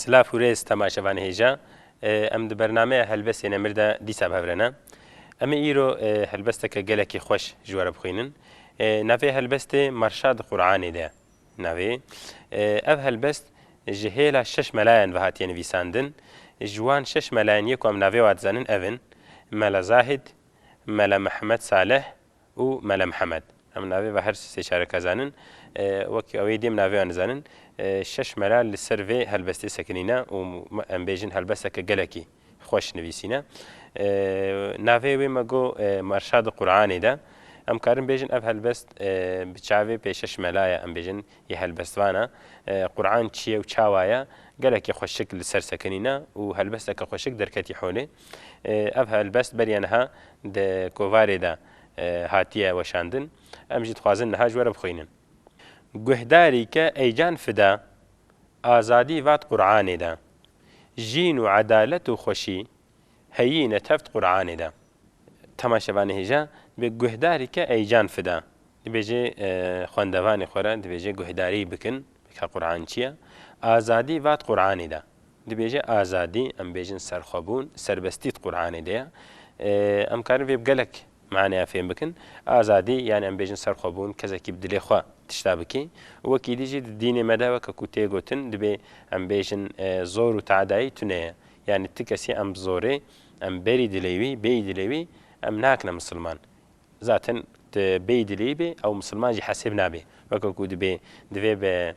Silav û rêz temaşevan hêja. Em di bernameya Helbestê Nemir de dîsa bi hev re ne. Em ê îro helbesteke gelekî xweş ji we re bixwînin. Navê helbestê Marşad Qur'anê de ye. Navê ev helbest ji hêla şeş melayan ve hatiye nivîsandin. Ji wan şeş melayan yê ku em navê wan dizanin ev in, Mela Zahid, Mela Mihemed Salih û Mela Mihemed. Em navê ve her sê çareka zanin. Wek ew ê dêm navê wan dizanin. Şeş mela li ser vê helbestê sekinîne û em bêjin helbesteke gelekî. Xweş nivîsîne. Navê wê me got Merşad Quranê de. Em karin bêjin ev helbest bi çavê pêşeş mela ye em bêjin yê helbestvan e. Quran çi ye û çawa ye? Gelekî xweşik li ser sekinîne û helbesteke xweşik derketî holê. Ev helbest beriya niha di kovarê de hatiye weşandin. Em jî dixwazin niha ji we re bixwînin. Guhdarî ke Eycan Fida azadî vat Quranê de. Jîn û edalet û xweşî heyî ne tevt Quranê de. Tama şevanê hêja bi guhdarî ke eyican fida. Dibêje xwendevanê xwe re dibêje guhdarî bikin ke Quran çi ye. Azadî vat Quranê de. Dibêje azadî, em bêjin serxwebûn, serbestît Quranê de ye. Em karin vê bi gelek Maneya fêm bikin, Azadî yanî em bêjin serxwebûn, kesekî bi dilê xwe tişta bike û wek êdî jî di dînê me de weke ku tê gotin dibê em bêjin zor û teadayî tune ye. Yanî ti kesî em bi zorê em berî dilê wî bêyî dilê wî em nakine misilman. Zaten ti bêyî dilê wî bê ew misilman jî hesêb nabe. Weke ku dibê divê bi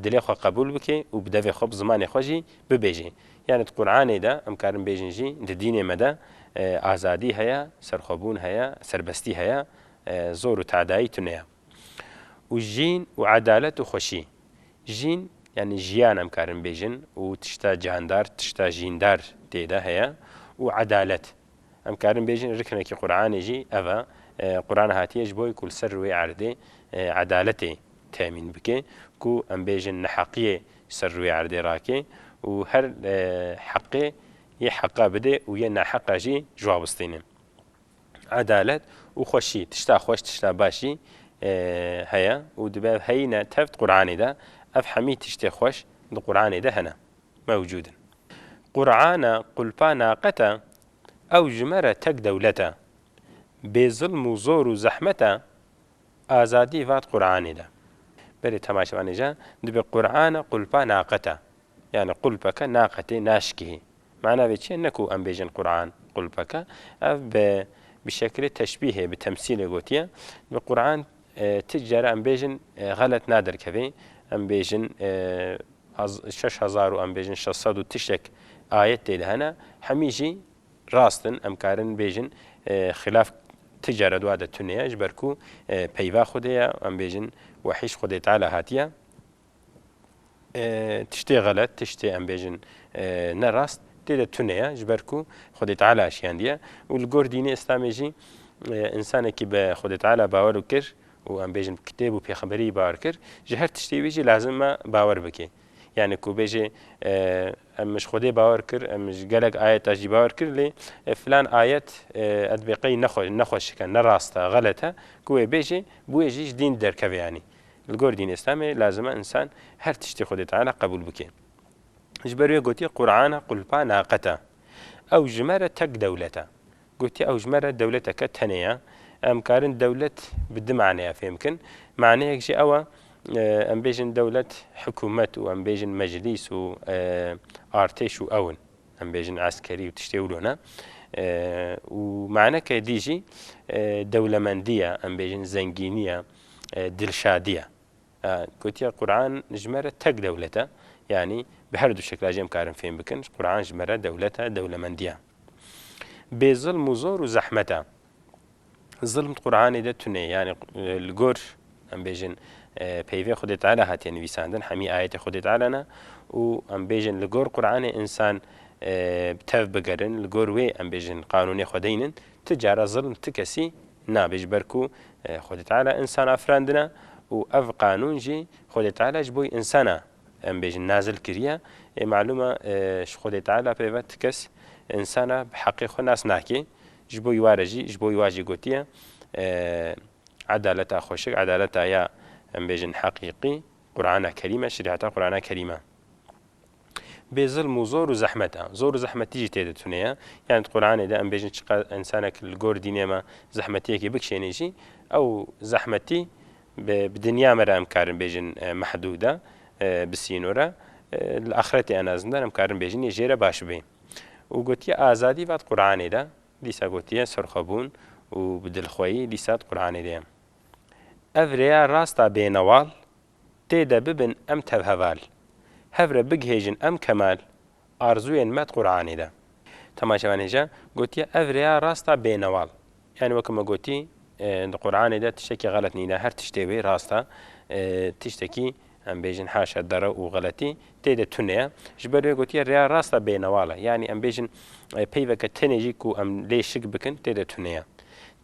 dilê xwe qebûl bike û bi devê xwe bi zimanê xwe jî bibêje. Yanî di Quranê de, em karin bêjin jî di dînê me de azadî heye, serxwebûn heye, serbestî heye, zor û tedayî tune ye. Û jîn û edalet û xweşî. Jîn yanî jiyan em karin bêjin û tişta cihndar, tişta jîndar tê de heye û edalet. Em karin bêjin riknekî Quranê jî ev e. Quran hatiye ji bo ku li ser rûyê erdê edaletê temîn bike, ku em bêjin neheqiyê ji ser rûyê erdê rake û her heqê yê heqa bidê û yê naheqa jî ji wa bistîne. Edalet û xweşî, tişta xweş, tişta baş jî heye û dibe heyîne tevt Quranê de. Ev hemî tiştê xweş di Quranê de hene. mewcûd in. Qur'an e, qulpa naqet e, ew ji me re tek dewlet e. Bê zilm û zor û zehmet e, azadî vat Qur'anê de. Berê temaşevanê je dibe Qur'an e, qulpa naqet e. Yanî qulpeke naqetê, naşikihî. Mana vê çi ye? Ne ku em bêjin Qur'an qulpeke, ev bi bi şekilê teşbîhê, bi temsîlê gotiye. Dibe Qur'an Ti cere em bêjin xelet naderkevê. Em bêjin şeş hezar û em bêjin şeş sed û tiştek ayet tê de hene. Hemî jî rast in. Em karin bêjin xilaf ti cere dua de tune ye ji ber ku peyva Xwedê ye. Em bêjin wehî ji Xwedê Teala hatiye. Tiştê xelet, tiştê em bêjin ne rast tê de tune ye ji ber ku Xwedê Teala şiyandiye û li gor dînê Îslamê jî însanekî bi Xwedê Teala bawer û kir û em bêjin kitêb û pêxemberiyî bawer kir ji her tiştê wî jî lazim e bawer bike. Yanî ku bêjê em ji Xwedê bawer kir, em ji gelek ayeta jî bawer kir lê filan ayet edbê qey nexwe nexwe şike ne rast e xelet e ku wê bêjê bi wê jî ji dîn derkevê yanî. Li gor dînê îslamê lazim e însan her tiştê Xwedê Teala qebûl bike. Ji ber wê gotiye Qur'ana qulpa naqet e. Ew ji me re tek dewlet e. Gotiye ew ji me re dewleteke tenê ye. Em karin dewlet bi du maneya fêm bikin. Maneyek jî ew e em bêjin dewlet hikûmet û em bêjin meclîs û artêş û ew in. Em bêjin eskerî û tiştê wilo ne. Û maneke dî jî dewlemendî ye, em bêjin zengînî ye. Dilşadiye gotiye Quran ji me re tek dewlet e. Yanî bi her du şekla jî em karin fêm bikin. Quran ji me re dewlet e, dewlemendiye. Bê zilm û zor û zehmet e. Zilm di Quranê de tune ye. Yanî li gor em bêjin peyvên Xwedê Teala hatiye nivîsandin. Hemî ayetê Xwedê Teala ne û em bêjin li gor Quranê însan tev bigerin. Li gor wê em bêjin qanûnê xwedê înin. Ti cara zilm ti kesî Nabê ji ber ku Xwedê Teala însan afirandine û ev qanûn jî Xwedê Teala ji boî însan a em bêjin nazil kiriye. Ê malûm e ji Xwedê Teala peyve ti kes însan a bi heqê xwe nas nakê. Ji boî wa re jî ji boî wa jî gotiye edaleta xweşik, edaleta ya em bêjin heqîqî Qurana Kerîm e, Şerîata Qurana Kerîm e. Bê zilm û zor û zehmet e. Zor û zehmetî jî tê de tune ye. Yanî di Quranê de em bêjin çiqas însanek li gor dînê me zehmetiyekê bikişênê jî ew zehmetî bi dinya me re em karin bêjin mehdûd e, bi sînor e, li axretê en a zindan em karin bêjin yê jê re baş bibê. Û gotiye azadî va di Quranê de, dîsa gotiye serxwebûn û bi dilxweyî dîsa di Quranê de ye. Ev rêya rast a bênewal Tê de bibin em tevheval. Hev re bigihêjin em kemal. Arzuyên me di Quranê de. Temaşevanê jî gotiye ev rêya rast a bênewal. Yanî weke me gotî di Quranê de tiştekî xelet nîne, her tiştê wê rast e. Tiştekî em bêjin haşa derew û xeletî tê de tune ye. Ji ber wê gotiye rêya rast a bênewal e. Yanî em bêjin peyveke tenê jî ku em lê şik bikin tê de tune ye.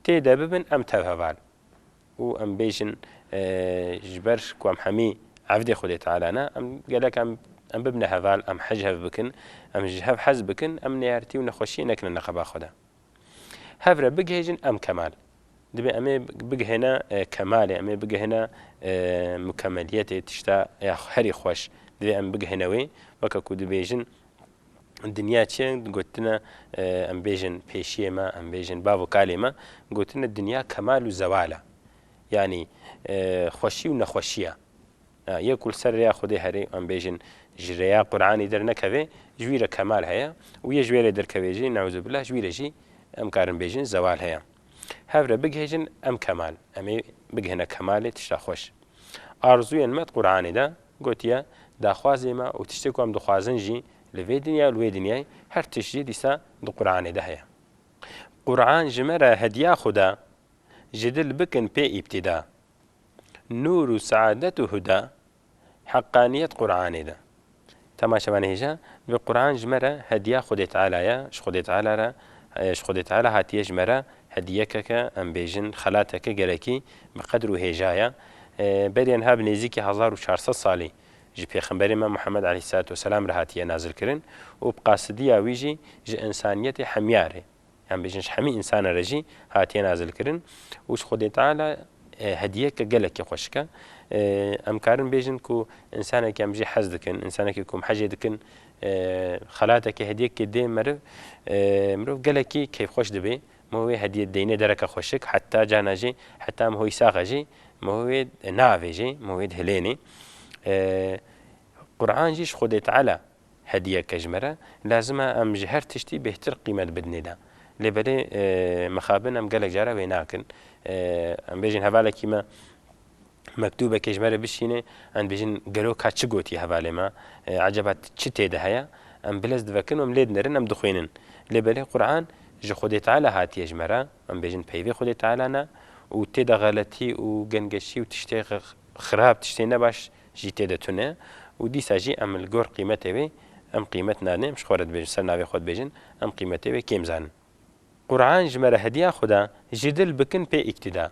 Tê de bibin em tevheval. û em bêjin ji ber ku em hemî evdê Xwedê Teala ne, em gelek em em bibne heval, em hej hev bikin, em ji hev hez bikin, em nêertî û nexweşiyê nekine neqeba xwe de. Hev re bigihêjin em kemal. Dibê em ê bigihêne kemalê, em ê bigihêne mukemeliyetê, tişta ya herî xweş. Divê em bigihêne wê, weke ku dibêjin, Dinya çi ye? Gotine em bêjin pêşiyê me, em bêjin bav û kalê me, gotine dinya kemal û zewal e. Yanî xweşî û nexweşî ye. Yê ku li ser rêya Xwedê herê em bêjin ji rêya Quranî dernekevê ji wî re kemal heye û yê ji wê re derkevê jî neuzubîllah ji wî re jî em karin bêjin zewal heye. Hev re bigihêjin em kemal, em ê bigihine kemalê tişta xweş. Arzûyên me di Quranê de Gotiye, Daxwazê me û tiştê ku em dixwazin jî li vê dinya û li wê dinyayê her tişt jî dîsa di Quranê de heye. Quran ji me re hediya Xuda, ji dil bikin pê îbtîda. Nûr û seadet û huda, heqqaniyet Quranê de. Dema çavan hêja, divê Quran ji me re hediya Xwedê Teala ye, ji Xwedê Teala re, ji Xwedê Teala hatiye ji me re Hediyekeke, em bêjin xelateke gelekî bi qedr û hêja ye. Berî enha bi nêzîkî hezar û çar sed salî ji pêxemberê me Muhemed aleyhîsselatû weselam re hatiye nazilkirin û bi qasidiya wî jî ji însaniyetê hemyarê, yan bêjin ji hemî însanan re jî hatiye nazilkirin û ji Xwedê Teala hediyeke gelekî xweşik e. Em karin bêjin ku însanekî em jî hez dikin, însanekî ku em hejê dikin Xelatekê hediyekê dê meriv, mirov gelekî keyfxweş dibê. Miho wê hediye deyne dereke xweşik, heta carna jî heta miho wî sax e jî miho wê naavêjê, miho wê dihilênê. Quran jî ji Xwedê Teala hediyek e ji me re, lazim e em ji her tiştî bêhtir qîmet bidinê de. Lê belê mixabin em gelek caran wê nakin. Em bêjin hevalekî me mektûbekê ji me re bişînê em dibêjin gelo ka çi gotiye hevalê me, ecaba çi tê de heye, em bilez divekin û em lê dinerin em dixwînin. Lê belê Quran ji Xwedê Teala hatiye ji me re, em bêjin peyvê Xwedê Teala ne û tê de xeletî û gengeşî û tiştê xirab tiştê nebaş jî tê de tune û dîsa jî em li gor qîmetê wê em qîmet nadin em ji xwe re dibêjin ser navê xwe dibêjin em qîmetê wê kêm zanin. Quran ji me re hediya Xweda ji dil bikin pê îktîda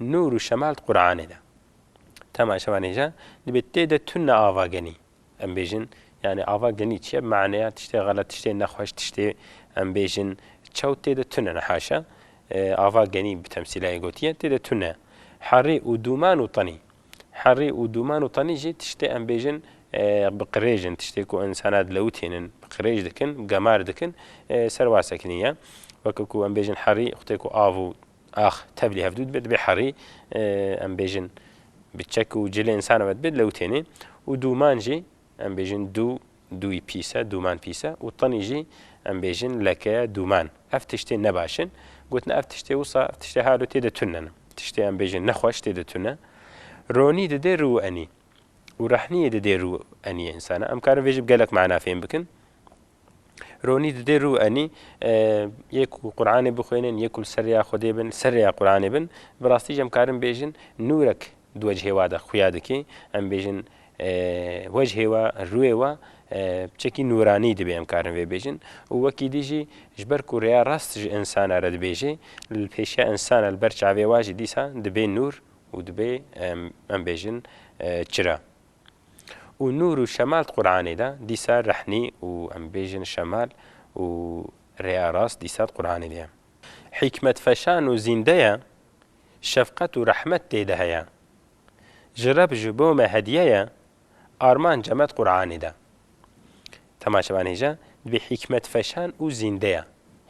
Nûr û şemal di Quranê de. Tema şemal hêja dibê tê de tune ava genî. Em bêjin yanî ava genî çi ye? Bi maneya tiştê xelet, tiştê nexweş, tiştê em bêjin çew tê de tune ne haşa. Ava genî bi temsîlayê gotiye tê de tune. Herî û dûman û tenî. Herî û dûman û tenî jî tiştê em bêjin bi qirêj in, tiştê ku însanan dilewitînin, bi qirêj dikin, gemar dikin, serwasek nîye. Weke ku em bêjin herî xwedê ku av û. Ax tevlî hevdû dibe, dibe herî em bêjin bi çek û cilê însan ve dibe lewtênê û dûman jî em bêjin dû, dûyî pîs e, dûman pîs e û tinî jî em bêjin leke ye, dûman. Ev tiştên ne baş in. Gotin ev tiştê wisa, ev tiştê halo tê de tune ne. Tiştê em bêjin nexweş tê de tune. Ronî didê rû û enî û rehniyê didê rû û eniyê însan e. Em karin vê jî bi gelek mana fêm bikin. Ronî didê rû enî yê ku Quranê bixwînin, yê ku li ser rêya Xwedê bin, ser rêya Quranê bin. Bi rastî jî em karin bêjin nûrek di wecihê wa de xuya dike. Em bêjin wecihê we, rûyê we bi çekî nûranî dibe em karin vê bêjin. Û wekî dî jî ji ber ku rêya rast ji însana re dibêje, li pêşiya însana li ber çavê wa jî dîsa dibê nûr û dibê em bêjin çira. Û nûr û şemal di Quranê de dîsa rehnî û em bêjin şemal û rêya rast dîsa di Quranê de ye. Hîkmet feşan û zînde ye, şefqet û rehmet tê de heye. Ji Reb ji bo me hediye ye, armanca me di Quranê de. Temaşe ban hêja, dibê hîkmet feşan û zînde ye.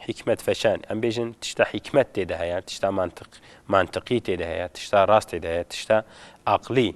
Hîkmet feşan, em bêjin tişta hîkmet tê de heye, tişta mantiq, mantiqî tê de heye, tişta rast tê de heye, tişta aqlî.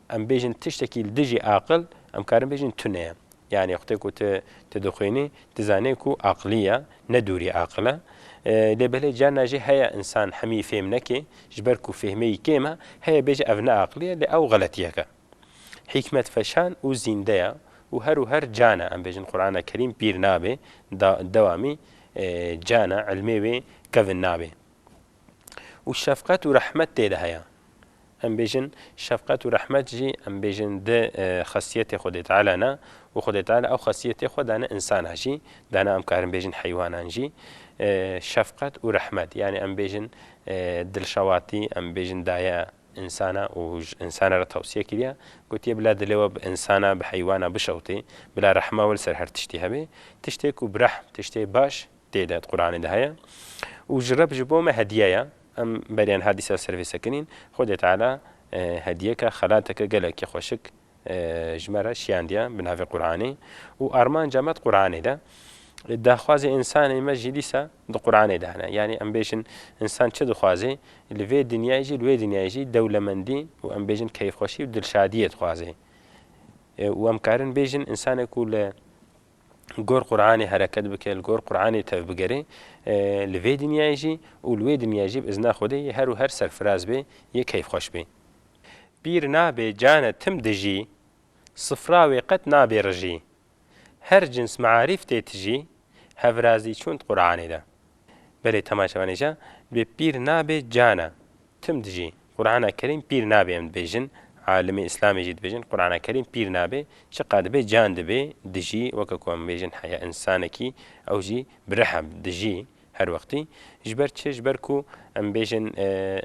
Em bêjin tiştekî li dijî aqil, em karin bêjin tune ye. Yanî xwtê ku tu tu dixwînî, tu zanî ku aqilî ye, ne dûrî aqil e. Lê belê carna jî heye însan hemî fêm neke, ji ber ku fêhmeyî kêm e, heye bêje ev ne aqilî ye, lê ew xeletiyek e. Hîkmet feşan û zînde ye û her û her can e. Em bêjin Qurana Kerîm pîr nabe, da dewamî can e, îlmê wê kevn nabe. Û şefqet û rehmet tê de heye. Em bêjin şefqet û rehmet jî em bêjin di xesiyetê Xwedê Teala ne û Xwedê Teala ew xesiyetê xwe dane însana jî, dana em karin bêjin heywanan jî. Şefqet û rehmet yanî em bêjin dilşewatî, em bêjin daye însana û ji însana re tewsiye kiriye, gotiye bila dilê we bi însana, bi heywana bişewitê, bila rehma we li ser her tiştî hebe. Tiştê ku bi rehm, tiştê baş Tê de di Quranê de heye. Û ji Reb ji bo me hediye ye. Em beriya niha dîsa ser vê sekinîn. Xwedê Teala hediyeke, xelateke gelekî xweşik ji me re şiyandiye bi navê Quranê. Û armanca me di Quranê de. Daxwazê însanê me jî dîsa di Quranê de hene. Yanî em bêjin însan çi dixwazê, li vê dinyayê jî li wê dinyayê jî dewlemendî û em bêjin keyfxweşî û dilşadiyê dixwazê. Û em karin bêjin însanek ku li. gor Quranê hereket bike, li gor Quranê tevbigerê li vê dinyayê jî û li wê dinyayê jî bi izna Xwedê yê her û her serfiraz bê, yê keyfxweş bê. Pîr nabê cane tim dijî, sifra wê qet nabê rijî. Her cins mearîf tê tijî, hevrazî çûnt Quranê de. Belê temaşe van îja bê pîr nabê cana tim dijî Qurana kerîm pîr nabê em dibêjin alimê îslamê jî dibêjin Qurana kerîm pîr nabê çiqa dibê can dibê dijî weke ku em bêjin heya însanekî ew jî bi riha dijî her wextî ji ber çi ji ber ku em bêjin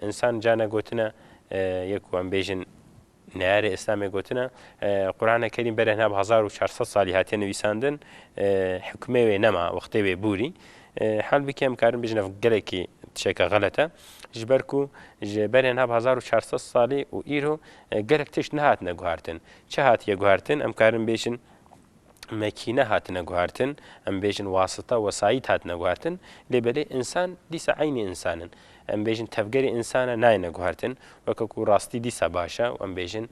însan cana gotine ye ku em bêjin Neyarê Îslamê gotine, Qurane Kerîm berehna bi hezar û çar sed salî hatiye nivîsandin, hikmê wê nema, wextê wê bûrî. Hal bike em karin bijin ev gelekî tişeke xelet e. Ji ber ku ji berehna bi hezar û çar sed salî û îro gelek tişt nehatine guhartin. Çi hatiye guhartin? Em karin bêjin. mekîne hatine guhertin, em bêjin wasita, wesayît hatine guhertin, lê belê însan dîsa eynî însan in. Em bêjin tevgerê însan e nayêne guhertin, weke ku rastî dîsa baş e û em bêjin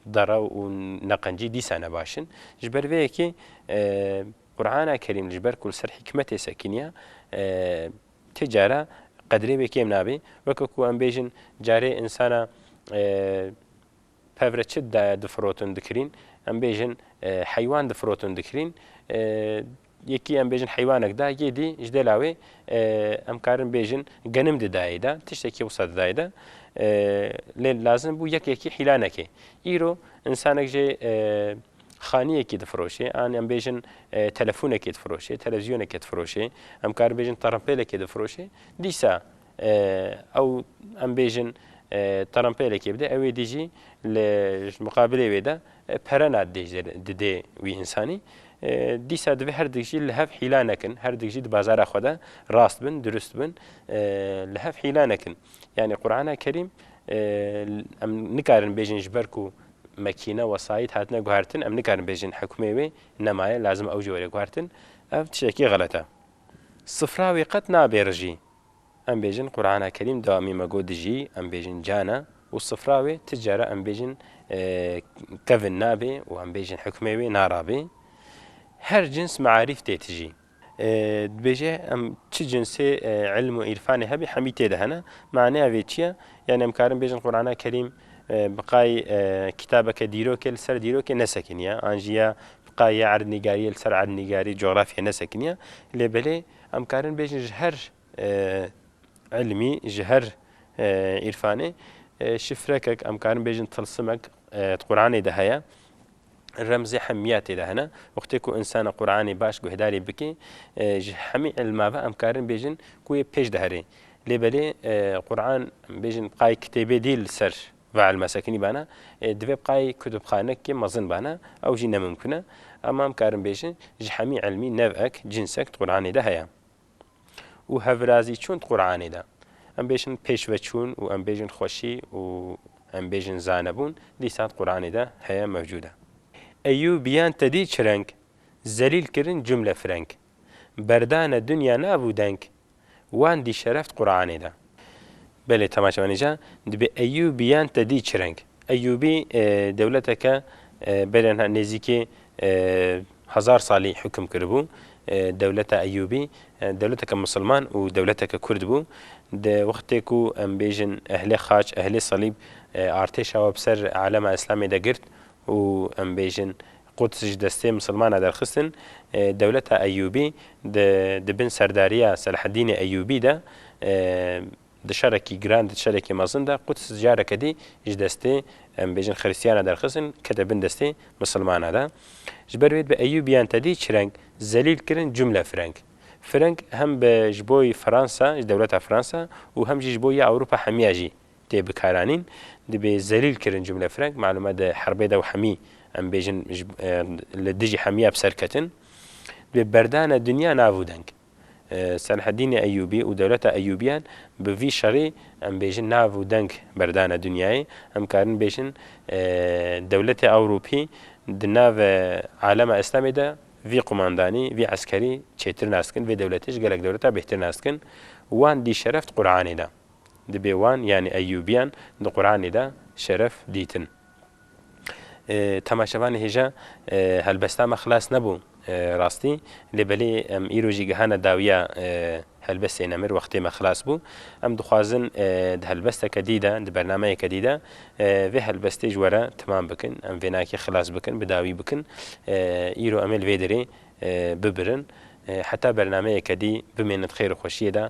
derew û neqencî dîsa ne baş in. Ji ber vê yekê Qur'ana Kerîm ji ber ku li ser hîkmetê sekiniya ti cara qedrê wê kêm nabê, weke ku em bêjin carê insana Pevre çi daya difirotin dikirîn? Em bêjin heywan difirotin dikirîn. Yekî em bêjin heywanek da, yê dî ji dêla wê em karin bêjin genim di dayê de, tiştekî wisa di dayê de. Lê lazim bû yek yekî hîla neke. Îro însanek jê xaniyekî difiroşê, an em bêjin telefonekê difiroşê, televîzyonekê difiroşê, em karin bêjin tirimpêlekê difiroşê, dîsa Ew em bêjin Trumpê lekê bide ewê dî jî li ji miqabilê wê de pere na didê wî însanî. Dîsa divê her dik jî li hev hîla nekin, her dik jî di bazara xwe de rast bin, dirust bin, li hev hîla nekin. Yanî Qurana Kerîm em nikarin bêjin ji ber ku mekîne, wesayît hatine guhertin em nikarin bêjin hikmê wê nemaye lazim ew jî were guhertin. Ev tiştekî xelet e. Sifra wê qet nabê rijî. Em bêjin Qur'ana Kerîm dawamî me got dijî em bêjin cane û sifra wê ti cara em bêjin kevin nabê û em bêjin hukmê wê narabê. Her cins me'arîf tê tijî. Dibêje em çi cinsê ilm û îrfanê hebî hemî tê de hene. Maneya vê çi ye? Yanî em karin bêjin Qur'ana Kerîm bi qay kitabeke dîrokê li ser dîrokê nesekiniye an jî ya bi qay ya erdnîgariyê li ser erdnîgarî, cografyayê nesekiniye lê belê Em karin bêjin ji her ilmî, ji her îrfanê şifrekek, em karin bêjin tilsimek di Quranê de heye. Remzê hemiya tê de hene. Wextê ku insana Quranê baş guhdarî bike, ji hemî ilma ve em karin bêjin ku wê pêş diherê. Lê belê Quran bêjin qayê kitêbê dî li ser Ve elma sekinî bana, ê divê bqay kutubxanekê mezin bana, ew jî nemimkun e. Ema em karin bêjin, ji hemî elmî nev'ek, cinsek di Quranê de heye. Û hevvirazî çûn di Quranê de. Em bêjin pêşveçûn û em bêjin xweşî û em bêjin zanebûn, dîsa di Quranê de heye, mewcûd e. Eyyûbiyan tedî çi reng, zelîl kirin cumle fireng. Berdane dinya nabû deng. Wan dî şereft Quranê de. Belê temaşe me nîşan dibê Eyyûbiyan te dî çi reng. Eyyûbî dewleteke belê niha nêzîkî hezar salî hukm kiribû. Dewleta Eyyûbî dewleteke misilman û dewleteke kurd bû. Di wextê ku em bêjin ehlê xaç, ehlê salîb artêşa we bi ser alema îslamê de girt û em bêjin Quds ji destê misilmana derxistin, dewleta Eyyûbî di di bin serdariya Selaheddînê Eyyûbî de di şerekî giran de di şerekî mezin de Quds careke dî ji destê em bêjin xirîstiyana derxistin kete bin destê misilmana de. Ji ber wê bi Eyyûbiyan tedî çireng zelîl kirin cumle fireng. Fireng hem bi ji bo Fransa ji dewleta Fransa û hem jî ji bo ya Ewropa hemiya jî Tê bikaranîn dibê zelîl kirin cumle fireng malûme di herbê de û hemî em bêjin li dijî hemîya bi ser ketin dibê berdane dinya nav û deng. Selahedînê Eyûbî û dewleta Eyûbîyan bi vî şerî em bêjin nav û deng berdane dinyayê em karin bêjin dewletê Ewrûpî di nav alema Îslamê de vî qumandanî vî eskerî çêtir nas dikin vê dewletê ji gelek dewleta bêhtir nas dikin wan dî şereft Quranê da. Dibê wan yanî Eyyûbiyan di Quranê de şeref dîtin. Temaşevanê hêja helbesta me xilas nebû rastî lê belê em îro jî gihane dawiya helbestê nemir wextê me xilas bû. Em dixwazin di helbesteke dî de, di bernameyeke dî de vê helbestê ji were timam bikin. Em vênakê xilas bikin, bi dawî bikin. Îro em ê li vê derê bibirin. Heta bernameyeke dî bimênin di xêr û xweşiyê de.